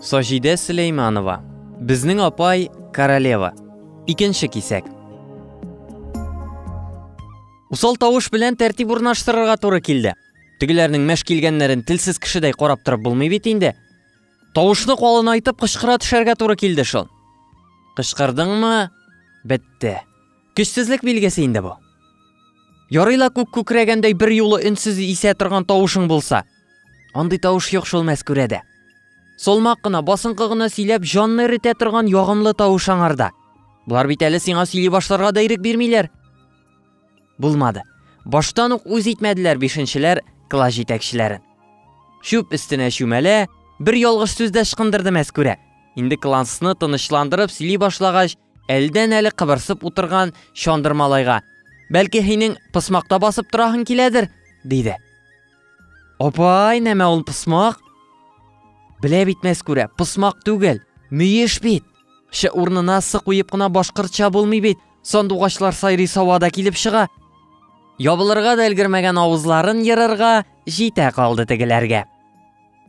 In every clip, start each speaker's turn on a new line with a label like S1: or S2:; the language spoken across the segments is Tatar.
S1: Саҗидә Сөләйманова. Безнең апай королева. Икенче кисәк. Усал тавыш белән тәртип урнаштырырга туры килде. Тегеләрнең мәш килгәннәрен телсез кешедәй карап торып булмый бит инде. Тавышны калынайтып кычкыра төшәргә туры килде шул. Кычкырдыңмы? Бетте. Көчсезлек билгесе инде бу. Ярый ла күк күкрәгәндәй бер юлы өнсез исә торган тавышың булса. Андый тавыш юк шул мәскүрәдә. Солмак кына, басынкы гына сөйләп, җанны эретә торган ягымлы тавыш аңарда. Болар бит әле сиңа сөйли башларга да ирек бирмиләр. Булмады. Баштан ук үз итмәделәр бишенчеләр класс җитәкчеләрен. Чүп өстенә чүмәлә, бер ялгыш сүз дә ышкындырды мәскүрә. Инде классны тынычландырып сөйли башлагач, Әлдән әле кыбырсып утырган Чандыр малайга, Бәлки һинең пысмакта басып тораһың киләдер, диде. Апай, нәмә ул пысмак? Белә бит мәскүрә, пысмак түгел, мөеш бит. Шы урнына сы куеп кына башкортча булмый бит. Сандугачлар сайрый савада килеп чыга. Ябылырга да өлгермәгән авызларын ерырга җитә калды тегеләргә.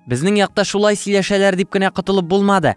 S1: Безнең якта шулай сөйләшәләр дип кенә котылып булмады.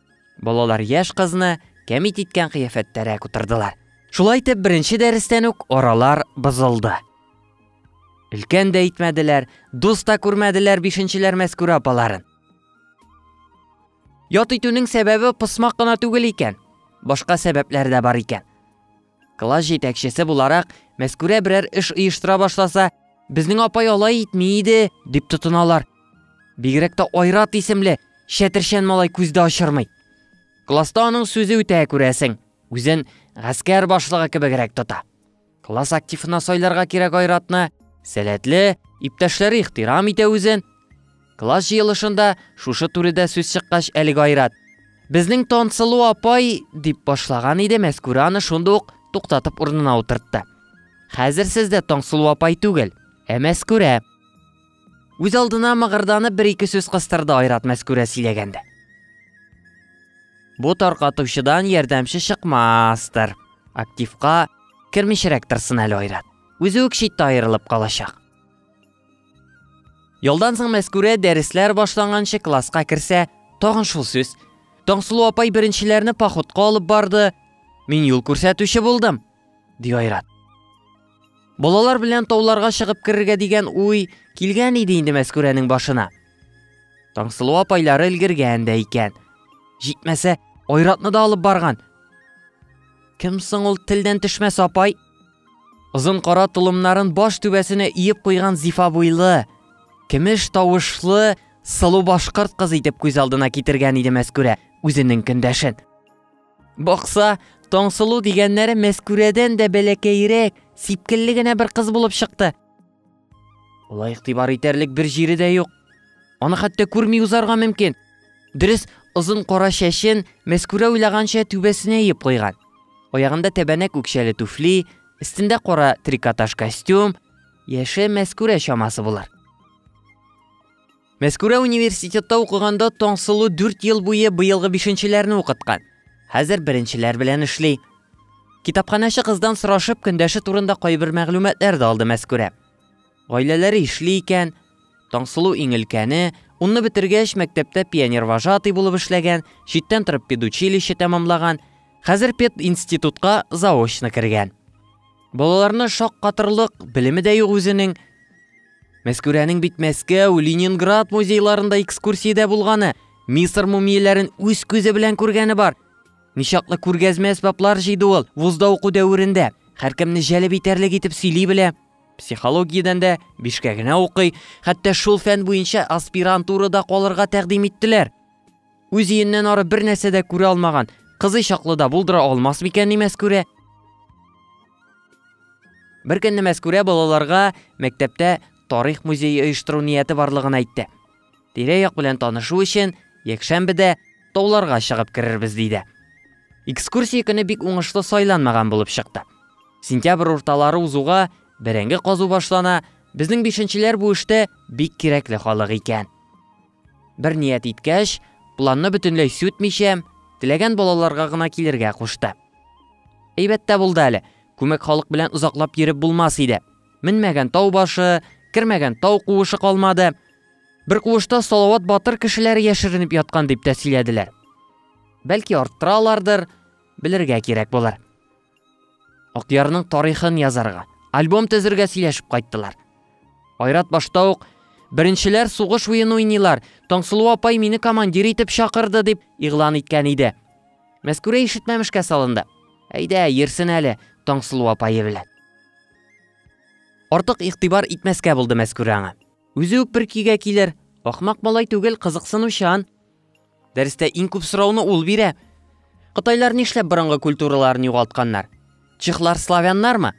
S1: Балалар яшь кызны кәмит иткән кыяфәттәрәк утырдылар. Шулай итеп, беренче дәрестән үк аралар бозылды. Өлкән дә итмәделәр, дус та күрмәделәр бишенчеләр мәскүрә апаларын. Ят итүнең сәбәбе посмак кына түгел икән, башка сәбәпләр дә бар икән. Класс җитәкчесе буларак, Мәскүрә берәр эш оештыра башласа, безнең апай алай итми иде, дип тотыналар. Бигрәк тә Айрат исемле чәтерчән малай күздә очырмый. Класста аның сүзе үтә күрәсең, үзен гаскәр башлыгы кебегрәк тота. Класс активына сайларга кирәк Айратны, сәләтле, иптәшләре ихтирам итә үзен, Класс җыелышында шушы турыда сүз чыккач әлеге айрат. Безнең Тансылу апай, дип башлаган иде, Мәскүрә аны шунда ук туктатып урынына утыртты. Хәзер сез дә Тансылу апай түгел, ә Мәскүрә. Үз алдына мыгырданып бер-ике сүз кыстырды Айрат Мәскүрә сөйләгәндә. Бу таркатучыдан ярдәмче чыкмастыр. Активка кермичрәк торсын әле Айрат. Үзе үк читтә аерылып калачак. Ялдан соң Мәскүрә дәресләр башланганчы класска керсә, тагын шул сүз. Таңсылу апай беренчеләрне походка алып барды. Мин юл күрсәтүче булдым, ди Айрат. Балалар белән тауларга чыгып керергә дигән уй килгән иде инде Мәскүрәнең башына. Таңсылу апайлары өлгергән дә икән. Җитмәсә, Айратны да алып барган. Кем соң ул телдән төшмәс апай? Озын кара толымнарын баш түбәсенә иеп куйган зифа буйлы, кемеш тавышлы, сылу башкорт кыз итеп күз алдына китергән иде Мәскүрә үзенең көндәшен. Бакса, Таңсылу дигәннәре Мәскүрәдән дә бәләкәйрәк, сипкелле генә бер кыз булып чыкты. Улай игътибар итәрлек бер җире дә юк. Аны хәтта күрми узарга мөмкин. Дөрес, озын кара чәчен Мәскүрә уйлаганча түбәсенә иеп куйган. Аягында тәбәнәк үкчәле туфли, өстендә кара трикотаж костюм, яше Мәскүрә чамасы булыр. Мәскүрә университетта укыганда Таңсылу дүрт ел буе быелгы бишенчеләрне укыткан. Хәзер беренчеләр белән эшли. Китапханәче кыздан сорашып, көндәше турында кайбер мәгълүматлар да алды Мәскүрә. Гаиләләре эшли икән, Таңсылу иң өлкәне, унны бетергәч, мәктәптә пионервожатый булып эшләгән, читтән торып педучилище тәмамлаган, хәзер пединститутка заочно кергән. Балаларны шаккатырлык белеме дә юк үзенең. Мәскүрәнең бит Мәскәү, Ленинград музейларында экскурсиядә булганы, Мисыр мумияләрен үз күзе белән күргәне бар. Ничаклы күргәзмә әсбаплар җыйды ул вузда уку дәверендә. Һәркемне җәлеп итәрлек итеп сөйли белә. Психологиядән дә бишкә генә укый, хәтта шул фән буенча аспирантурада калырга тәкъдим иттеләр. Үз өеннән ары бер нәрсә дә күрә алмаган, кызый чаклы да булдыра алмас микән ни Мәскүрә? Бер көнне Мәскүрә балаларга мәктәптә тарих музее оештыру нияте барлыгын әйтте. Тирә-як белән танышу өчен якшәмбедә тауларга чыгып керербез диде. Экскурсия көне бик уңышлы сайланмаган булып чыкты. Сентябрь урталары узуга бәрәңге казу башлана, безнең бишенчеләр бу эштә бик кирәкле халык икән. Бер ният иткәч, планны бөтенләй сүтмичә, теләгән балаларга гына килергә кушты. Әйбәт тә булды әле, күмәк халык белән озаклап йөреп булмас иде. Менмәгән тау башы, кермәгән тау куышы калмады. Бер куышта Салават батыр кешеләре яшеренеп яткан дип тә сөйләделәр. Бәлки арттыралардыр, белергә кирәк булыр. Акъярның тарихын язарга, альбом төзергә сөйләшеп кайттылар. Айрат башта ук Беренчеләр сугыш уен уйныйлар, Таңсылу апай мине командир итеп чакырды дип игълан иткән иде. Мәскүрә ишетмәмешкә салынды. Әйдә, йөрсен әле Таңсылу апае белән. Артык игътибар итмәскә булды Мәскүрә аңа. Үзе үк бер көйгә килер, ахмак малай түгел, кызыксынучан. Дәрестә иң күп сорауны ул бирә. Кытайлар нишләп борынгы культураларын югалтканнар? Чехлар славяннармы?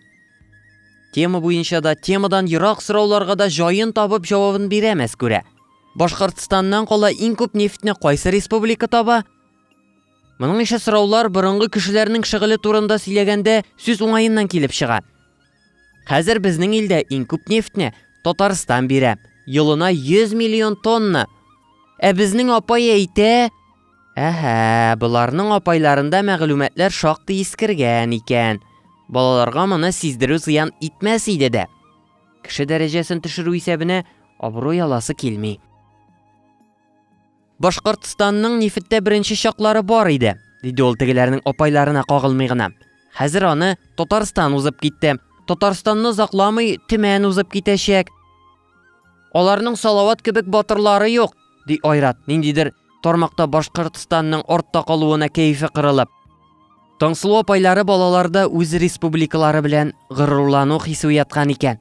S1: Тема буенча да, темадан ерак сорауларга да җаен табып җавабын бирә Мәскүрә. Башкортстаннан кала иң күп нефтьне кайсы республика таба? Моның ише сораулар борынгы кешеләрнең шөгыле турында сөйләгәндә сүз уңаеннан килеп чыга. Хәзер безнең илдә иң күп нефтьне Татарстан бирә. Елына 100 миллион тонна. Ә безнең апай әйтә, Әһә, боларның апайларында мәгълүматлар шактый искергән икән. Балаларга моны сиздерү зыян итмәс иде дә. Кеше дәрәҗәсен төшерү исәбенә абруй аласы килми. Башкортстанның нефеттә беренче чаклары бар иде, диде ул тегеләрнең апайларына кагылмый гына. Хәзер аны Татарстан узып китте. Татарстанны озакламый Төмән узып китәчәк. Аларның Салават кебек батырлары юк, ди Айрат, ниндидер тармакта Башкортстанның артта калуына кәефе кырылып. Таңсылу апайлары балаларда үз республикалары белән горурлану хисе уяткан икән.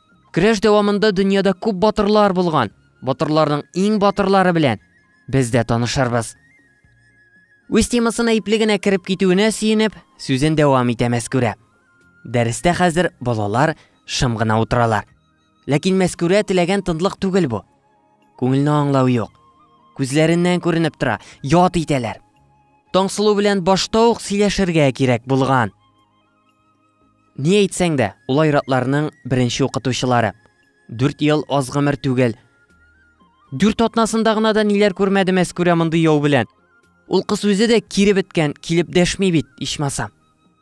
S1: Көрәш дәвамында дөньяда күп батырлар булган. Батырларның иң батырлары белән без дә танышырбыз. Үз темасына ипле генә кереп китүенә сөенеп, сүзен дәвам итә Мәскүрә. Дәрестә хәзер балалар шым гына утыралар. Ләкин Мәскүрә теләгән тынлык түгел бу. Күңелне аңлау юк. Күзләреннән күренеп тора, ят итәләр. Таңсылу белән башта ук сөйләшергә кирәк булган. Ни әйтсәң дә, ул айратларның беренче укытучылары. Дүрт ел аз гомер түгел. Дүрт атнасында гына да ниләр күрмәде Мәскүрә мондый яу белән. Ул кыз үзе дә кире беткән, килеп дәшми бит, ичмаса.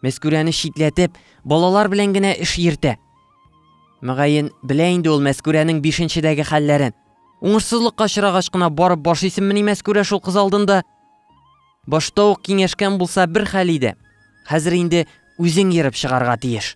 S1: Мәскүрәне читләтеп, балалар белән генә эш йөртә. Мөгаен, белә инде ул Мәскүрәнең бишенчедәге хәлләрен. Уңышсызлыкка очрагач кына барып баш исеммени Мәскүрә шул кыз алдында? Башта ук киңәшкән булса бер хәл иде. Хәзер инде үзең ерып чыгарга тиеш.